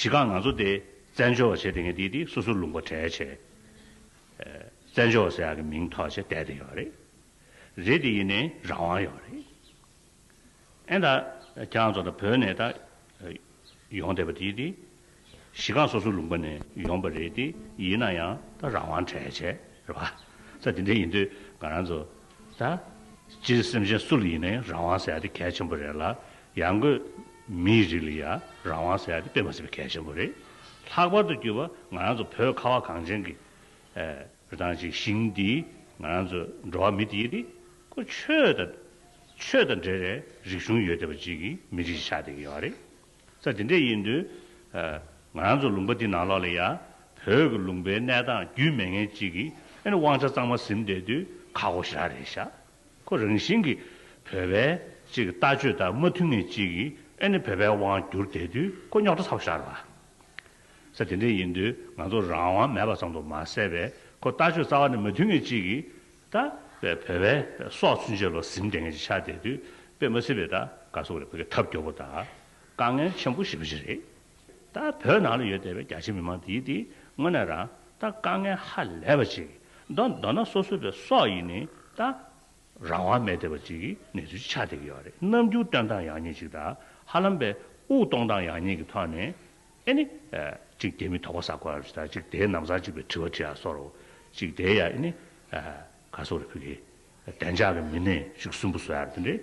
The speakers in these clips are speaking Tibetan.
གཞི་གང་ང་ཚོ་དེ་བཙན་བྱོལ་བ་བྱས་དེ་ངས་དེ་དེ་སོ་སོར་ལུང་པ་གྲལ་བྱས། བཙན་བྱོལ་བ་ཟེར་ཡག་གི་མིང་ཐོག་བྱས་བསྡད་དེ་ཡོད་རེད། རེད་དེ་ཡིན་ནའི་རང་དབང་ཡོད་རེད། ཨེ་ད་ཁྱེད་རང་ཚོ་ད་བོད་ནས་ད་ཡོང་བསྡད་པ་དེ་དེ། གཞི་གང་སོ་སོའི་ལུང་པ་ནས་ཡོང་པ་རེད་དེ་ཡིན་ན་ཡང་ད་རང་དབང་གྲལ་བྱས་རེད་པ། ད་དེ་འདྲ་ཡིན་དུས་ང་རང་ཚོ་ད་སྤྱིར་སེམས་ཅན་སུ་ལ་ཡིན་ནའི་རང་དབང་ཟེར་ཡག་དེ་གལ་ཆེན་པོ་རེད་ལ་ཡང་སྒོས་མིའི་རིགས་ལ་ཡང་རང་དབང་ཟེར་ཡག་དེ་དཔེ་མ་ཟིན་པའི་གལ་ཆེན་པོ་རེད། ལྷག་པར་དུ་གྱུར་པ་ང་རང་ཚོ་བོད་ཁ་བ་གངས་ཅན་གྱི་རི་ཐང་ཅིག་ཞིང་འདིའི་ང་རང་ཚོ་འགྲོ་བ་མི་དེ་ཡིན་དུས་ཁོ་ཆོས་དང་ཆོས་དང་འདྲེས་རེ་རིག་གཞུང་ཡོད་བསྡད་པ་ཅིག་གིས་མི་རིགས་ཤིག་ཆགས་བསྡད་ཀྱི་ཡོད་རེད། ས་དེ་འདྲས་ཡིན་དུས། ང་རང་ཚོ་ལུང་པ་འདི་ནང་ལོགས་ལ་ཡ། བོད་ཀྱི་ལུང་པའི་གནས་སྟངས་རྒྱུས་མེད་ངན་གཅིག་གིས་ཨེ་ནི་དབང་ཆ་གཙང་མ་གཟིམ་བསྡད་དུས་ཁ་སྒོ་ཞར་རེ་བཞག་ཁོ་རང་བཞིན་གྱིས། བོད་པའི་གཅིག་གི་ལྟ་སྤྱོད་ལྟར་མ་མཐུན་ངན་གཅིག་གིས་ཨེ་ནི་བོད་པའི་དབང་བསྒྱུར་བསྡད་དུས་ཁོ་རྙོག་དྲ་ཚ་བོ་ཞར་བ། ས་དེ་འདྲས་ཡིན་དུས་ང་ཚོ་རང་དབང་མེད་པ་ཙམ་དུ་མ་ཟད་པས་ཁོ་ལྟ་སྤྱོད་རྩ་བ་ནས་མ་མཐུན་ངན་གཅིག་གིས། ད་བའི་བོད་བས་སྲོག་ཚུན་ཆད་ལོ་ཟིན་དེང་གི་ཆ་དེ་དུས་དཔེ་མ་སྲིད་པའི་ད་ག་སོགས་ལས་བོད་ཀྱི་ཐབས་སྐྱོ་པོ་དག་དཀའ་ངལ་ཆེན་པོ་ཞི་བ་ཞིག་རེད། ད་བོད་ནང་ལ་ཡོད་བསྡད་པའི་རྒྱ་ཆེ་མི་མང་དེའི་དེ་དངོས་ནས་རང་ད་དཀའ་ངལ་ཧ་ལས་པ་ཅིག་མདོ་མདོ་ན་སོ་སོ་བའི་སྲོག་ཡིན་ནི་ད་རང་དབང་མེད་བསྡད་པ་ཅིག་གི་གནས་ཚུལ་ཆ་དེ་གི་ཡོད་རེད་ནམ་རྒྱུག་སྟོན་སྟངས་ཡག་ཉེས་ཅིག་ད་ཧ་ལམ་པའི་དབུག་གཏོང་སྟངས་ཡག་ཉེས་ཀྱི་ཐོག་ནས་ཨེ་ནི། གཅིག་བདེ་མི་དོགས་པ་བསགས་པར་བྱ། གཅིག་བདེ་ནམ་བཟང་གཅིག་པའི་དྲི་བ་དྲི་ཡང་སོར། གཅིག་བདེ་ཡང་ཨེ་ནི། ག་སོ་རི་ཕུག་གི། བདེ་འཇགས་ཀྱི་མི་སྣའི་གཅིག་གསུམ་པོ་སོ་ཡང་དེ་འདྲའི།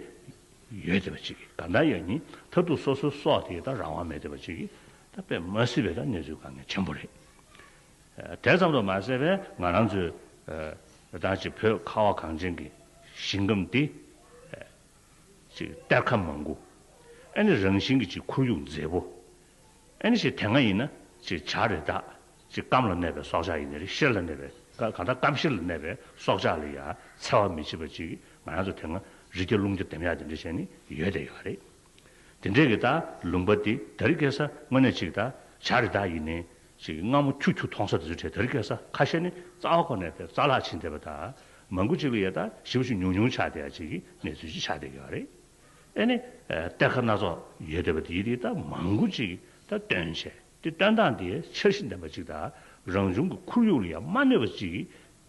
ཡོད་བདེ་བ་གཅིག་གི་ག་འདྲ་ཡང་གཉིས་མཐར་ཐུག་སོ་སོའི་སྲོག་དེའི་དང་རང་དབང་མེད་བདེ་བ་གཅིག་གི། ད་པས་མ་སྲིད་པའི་དང་གནས་ཚུལ་དཀའ་ངལ་ཆེན་པོ་རེད། དེ་ཙམ་དུ་མ་ཟད་པས་ང་རང་ཚོའི། དང་གཅིག་བོད་ཁ་བ་གངས་ཅན་གྱི་ཞིང་ཁམས་འདི། ཅིག་གཏེར་ཁ་མང་པོ། ཨེ་ནི་རང་བཞིན་གྱི་ཅིག་ཁོར་ཡུག་མཛེས་པོ། ཨེ་ནི་ཅིག་དེ་སྔ་ཡིན་ན་ཅིག་བྱ་རེ་བདག། ཅིག་སྐམ་ལ་གནས་པའི་སྲོག་ཆགས་ཡིན་ནི་རི་ཤེལ་ལ་གནས་པའི་གང་ལྟར་སྐམ་ཤེལ་ལ་གནས་པའི་སྲོག་ཆགས་ལ་ཡང་འཚེ་བ་མི་བྱེད་པ་ཅིག་ང་རང་ཚོ་དེ་སྔ་རི་སྐྱ་ཀླུང་སྐྱ་འདེམས་ཡག་འདེམས་འདྲ་བྱས་ནི་ཡོད་བསྡད་ཡོད་པ་རེད། དེ་འདྲས་ཀྱི་ད་ལུང་པ་འདི་ད་རི་སྐྱ་ས་དངོས་གནས་ཅིག་ད་བྱ་རེ་བདག་ཡིན་ནི་ཅིག་སྔ་མོ་ཁྱུ་ཁྱུ་མཐོང་ས་དེ་ཚོའི་གྲལ་དར་བཀལ་ས་ཁ་ཤས་ནི་རྩ་བ་ཁོ་ནས་ཕེབས་རྩ་ལག་ཕྱིན་བསྡད་པ་དག་མང་པོ་ཅིག་ལ་ཡས་དག་ཞིབ་ཞིབ་ཉུང་ཉུང་ཆགས་བསྡད་ཡ་ཅིག་གི་གནས་ཚུལ་ཅིག་ཆགས་བསྡད་ཡོད་རེད། ཨེ་ནི། གཏེར་ཁ་སྣ་ཚོགས་ཡོད་བསྡད་པ་དེ་དེ་དག་མང་པོ་ཅིག་གིས་དག་སྟོན་བྱས་ཏེ་སྟོན་སྟངས་དེ་འཆར་གཞི་ལྡན་པ་ཅིག་དང་རང་བྱུང་གི་ཁོར་ཡུག་ལ་ཡང་མ་གནོད་པ་ཅིག་གི་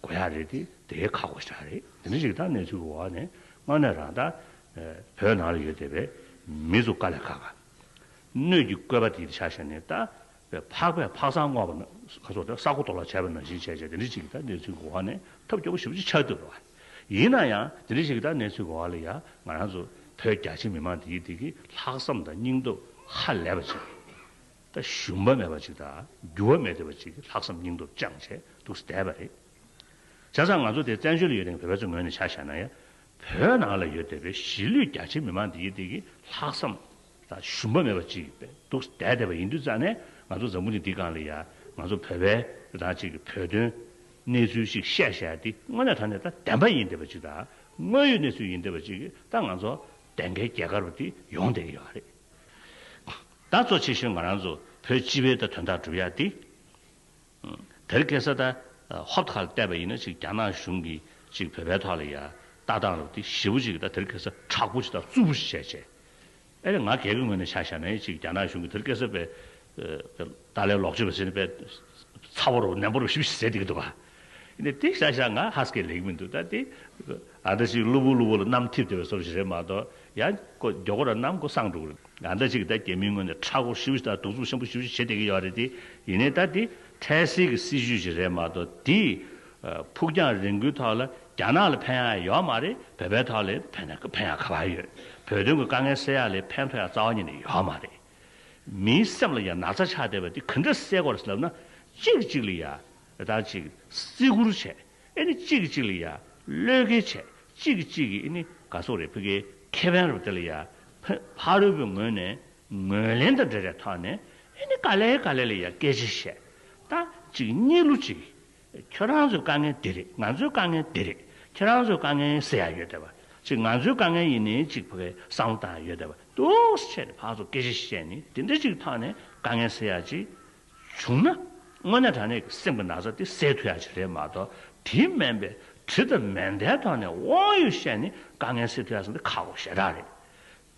དགོས་ཡ་རེད་དེ་དེའི་ཁག་གོ་ཞག་རེད་དེ་འདྲ་ཞིག་དང་གནས་ཚུལ་གི་འོག་ནས་སྔར་ནས་རང་དག་བོད་ནང་ལ་ཡོད་བསྡད་པའི་མི་ཚོ་དཀའ་ལས་ཁག་གནོད་ཀྱི་བཀོད་པ་དེ་དེ་ཆགས་བྱས་ནས་དག་པའི་འཕགས་པའི་འཕགས་སམ་བསྔོ་བ་ན་ཁ་སོགས་ཏེ་ས་རྐོ་དོ་ལ་བྱ་བས་ན་བཞིན་བྱས་བྱས་དེ་འདྲའི་ཚིག་གི་ད་ནའི་ཚུལ་གོ་བ་ནས་ཐབས་སྐྱོ་བོ་བཞི་པོ་ཅིག་ཆར་དུ་འགྲོ་བ། ཡིན་ན་ཡང་དེ་འདྲའི་ཞིག་གི་ད་ནའི་ཚུལ་གོ་བ་ལ་ཡང་ང་རང་ཚོ་བོད་རྒྱ་ཆེ་མི་མང་དེ་ཡིད་བདེ་གི་ལྷག་བསམ་དང་སྙིང་སྟོབས་ཧ་ལས་པ་ཅིག་དང་ཞུམ་པ་མེད་པ་ཅིག་དང་འགྱུར་བ་མེད་བདེ་བ་ཅིག་གི་ལྷག་བསམ་སྙིང་སྟོབས་བཅངས་བྱས་འདུག་བསྡད་པ་རེད། བྱས་ཙང་ང་ཚོ་དེ་བཙན་བྱོལ་ལ་ཡོད་དེང་བོད་པའི་ཚོ་ངོས་ནས་ཆ་བཞག་ན་ཡང་བོད་ནང་ལ་ཡོད་བསྡད་པའི་གཞིས་ལུས་རྒྱ་ཆེ་མི་མང་དེ་ཡིད་བདེ་གི་ལྷག་བསམ་དང་ཞུམ་པ་མེད་པ་ཅིག་པའི་སྡུག་ཟད་བསྡད་པ་ཡིན་དུས་རྩ་ནས་ང་ཚོ་འཛམ་བུ་གླིང་འདི་གང་ལ་ཡ་ང་ཚོ་བོད་པའི་རང་ཅིག་གི་བོད་དོན་གནས་ཚུལ་ཅིག་བཤད་བཤད་དེ་དངོས་གནས་ད་ནས་ད་བདེན་པ་ཡིན་བསྡད་པ་ཅིག་དང་དངོས་ཡོད་གནས་ཚུལ་ཡིན་བསྡད་པ་ཅིག་གིས་ད་ང་ཚོ་བདེན་ཁའི་རྒྱལ་ཁར་བ་དེ་ཡོང་བསྡད་ཀྱི་ཡོད་པ་རེད་ད་གཙོ་ཆེ་ཤོས་ང་རང་ཚོ་བོད་སྤྱི་བའི་ད་དོན་དག་སྒྲུབ་ཡ་དེ་དེར་གེ་སར་ཏཱའི་ཧོབ་ཁ་ལ་བལྟས་པ་ཡིན་ན་ཅིག་རྒྱ་ནག་གཞུང་གིས་ཅིག་བོད་པའི་ཐོག་ལ་ཡ་ལྟ་བཏང་རོགས་ཏེ་ཞེ་བོ་ཅིག་ད་དེར་གེ་སར་དྲག་པོ་ཅིག་དང་རྩུབ་པོ་ཅིག་བྱས་བྱས། ཨེ་རེད་ང་གེ་གེ་ངོས་ནས་ཆ་བཞག་ནས་ཅིག་རྒྱ་ནག་གཞུང་གིས་དེར་གེ་སར་པའི་ཏཱ་ལའི་ལོག་སྤྱོད་པ་ཟེར་ནས་པའི་ཚ་བོ་རུ་ནན་པོ་རུ་ཞིབ་ཞིབ་བྱས་འདུག་གི་འདུག་ག། དེ་བཞག་བཞག་ང་ཧ་སྐད་ལེགས་མི་འདུག་ད་དེ། ཨ་འདྲ་ཞིག་གློ་བུར་གློ་བུར་ལ་གནམ་ཐིབ་ཐིབ་པའི་སོབ་ཞིག་རེད་མ་གཏོགས་ཡང་ཀོ་མགྱོགས་ཀོ་ར་གནམ་ཀོ་སངས་འགྲོ་གི་རེད། ཨ་འདྲ་ཞིག་གིས་ད་རྒྱ་མིའི་ངོས་ནས་ཁྲག་ཁོག་ཤི་བོ་ཞིག་དང་གདུག་རྩུབ་ཆེན་པོ་ཞི་བོ་ཞིག་བྱེད་བསྡད་ཀྱི་ཡོད་རེད་དེ། ཡིན་ནའི་ད་དེ་འཕྲལ་སེལ་གྱི་སྲིད་བྱུས་ཞིག་རེད་མ་གཏོགས་དེས་ཕུགས་རྒྱང་རིང་པོའི་ཐོག་ལ་རྒྱ་ནག་ལ་ཕན་ཡག་ཡོད་མ་རེད་བོད་པའི་ཐོག་ལས་ཕན་ཡག་ཕན་ཡག་ག་བ་ཡོད། བོད་དོན་གྱི་དཀའ་ངལ་སེལ་ཡག་ལས་ཕན་ཐོགས་ཡག་རྩ་བ་ཉིད་ནས་ཡོད་མ་རེད། མིའི་སེམས་ལ་ཡང་ན་ཚ་ཆགས་བསྡད་པ་དེ་ག་འདྲ་སེལ་དགོས་རེད་ལབ་ན། གཅིག་གཅིག་ལ་ཡང་རེ་ཐང་ཅིག་བརྩི་བཀུར་བྱས། ཨེ་ནི་གཅིག་གིས་གཅིག་ལ་ཡ། བློས་འགེལ་བྱས། གཅིག་གིས་གཅིག་གིས་ཨེ་ནི་ག་སོགས་རེ་ཕི་ཀའི་ཁེ་ཕན་རུ་དེ་ལ་ཡ། ཕ་རོལ་པོའི་ངོས་ནས་ངོས་ལེན་དང་འབྲེལ་བྱས་ཐོག་ནས་ཨེ་ནི་ག་ལའི་ག་ལའི་ལ་ཡ་སྐད་ཅིག་བཤད། ད་གཅིག་གཉིས་ལུགས་གཅིག། ཁྱོད་རང་ཚོའི་དཀའ་ངལ་འདི་རེད་ང་ཚོའི་དཀའ་ངལ་འདི་རེད་ཁྱོད་རང་ཚོའི་དཀའ་ངལ་ཟེར་ཡག་ཡོད་དེ་བ། གཅིག་ང་ཚོའི་དཀའ་ངལ་ཡིན་ནི་གཅིག་ཕི་ཀའི་བསམ་བློ་དང་ཡང་ཡོད་དེ་བ། ཏུའུ་སི་ཆད་ནས་ཕག་ཚོ་སྐད་ཅིག་བཤད་ནི་དེ་འདྲ་གཅིག་ཐོག་ནས་དཀའ་ངལ་ཟེར་ཡག་གཅིག། བྱུང་ན། དངོས་གནས་དྲ་གནས་ཀྱི་སེམས་ཀྱི་ན་ཚ་དེ་སེལ་ཐུབ་ཡ་ཆེ་རེད་མ་གཏོགས་དེའི་སྨན་པའི་གྲི་དང་མེ་མདའི་ཐོག་ནས་དབང་ཡོད་བཤད་ནས་དཀའ་ངལ་སེལ་ཐུབ་ཡ་ཟེར་ན་འདི་ཁག་པོ་ཞེ་དྲག་རེད།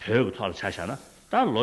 བོད་ཀྱི་ཐོག་ལ་ཆ་བཞག་ན་ད་ལོ།